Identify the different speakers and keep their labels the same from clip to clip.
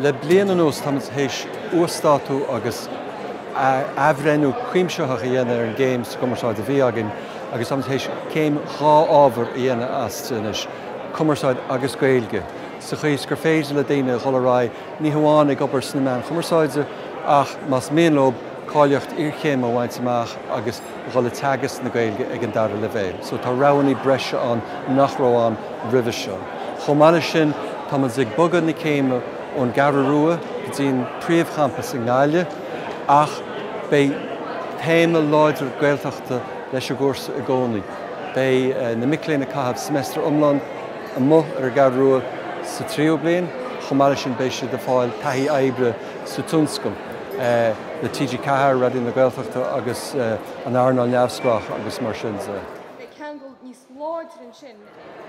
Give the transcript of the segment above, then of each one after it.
Speaker 1: Le bliain anuas táimid théis uasdátú agus athbhreithniú cuimsitheach a dhéanamh ar an gcéim sa gcumarsáid a bhí againn agus táimid théis céim dhá ábhar a dhéanamh as anois, Cumarsáid agus Gaeilge, sa chaoi is gur féidir le daoine dul ar aghaidh ní hamháin ag obair sna meáin chumarsáide ach más mian leob cáilíocht iarchéime a bhaint amach agus a dhul ag teagasc na Gaeilge ag an dara leibhéal. So tá roghanna breise ann nach raibh ann roimhe seo. Chomh maith leis sin tá muid ag bogadh na céime ón gCeathrú Rua go dtí an príomhchampas i nGaillimh ach beidh téama láidir Gaeltachta leis an gcúrsa i gcónaí. Beidh na mic léinn ag caitheamh seimeastar iomlán. amuigh ar an gCeathrú Rua sa tríú bliain. Chomh maith leis sin beidh siad ag fáil taithí oibre sa tionscal le TG4, Raidió na Gaeltachta agus an earnáil neamhspleách agus mar sin de.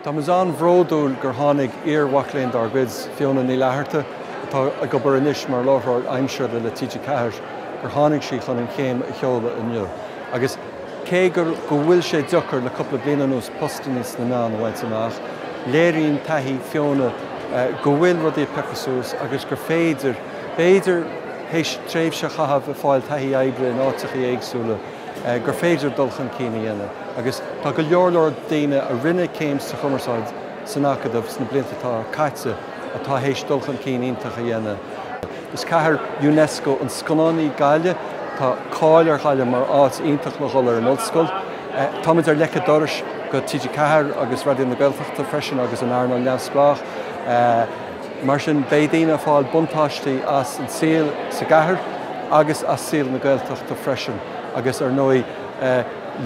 Speaker 1: Tá muid an-bhródúil gur tháinig iar-mhac léinn dár gcuid, Fiona Ní Fhlatharta, atá ag obair anois mar láithreoir aimsire le TG4, gur tháinig sí chun an chéim a sheoladh inniu. Cé go go bhfuil sé deacair le cupla bliain anuas postannaí sna meáin a bhaint amach, léiríonn taithí Fiona go bhfuil rudaí ag piocadh suas agus gur féidir b'fhéidir théis tréimhse a chaitheamh ag fáil taithí oibre in áiteachaí éagsúla, gur féidir dul chun cinn a dhéanamh. Agus tá go leor leor daoine a rinne céim sa Chumarsáid san Acadamh sna blianta atá caite atá théis dul chun cinn iontach a dhéanamh. Is cathair Unesco na scannán í Gaillimh. Tá cáil ar Ghaillimh mar áit iontach le dhul ar an ollscoil. Táimid ar leic a' dorais go TG4 agus Raidió na Gaeltachta freisin agus an earnáil neamhspleách. Mar sin beidh daoine ag fáil buntáistí as an saol sa gcathair agus as saol na Gaeltachta freisin agus ar ndóigh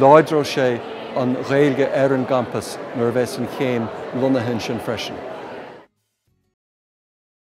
Speaker 1: láidreoidh sé an Ghaeilge ar an gcampas nuair a bheas an chéim lonnaithe ansin freisin.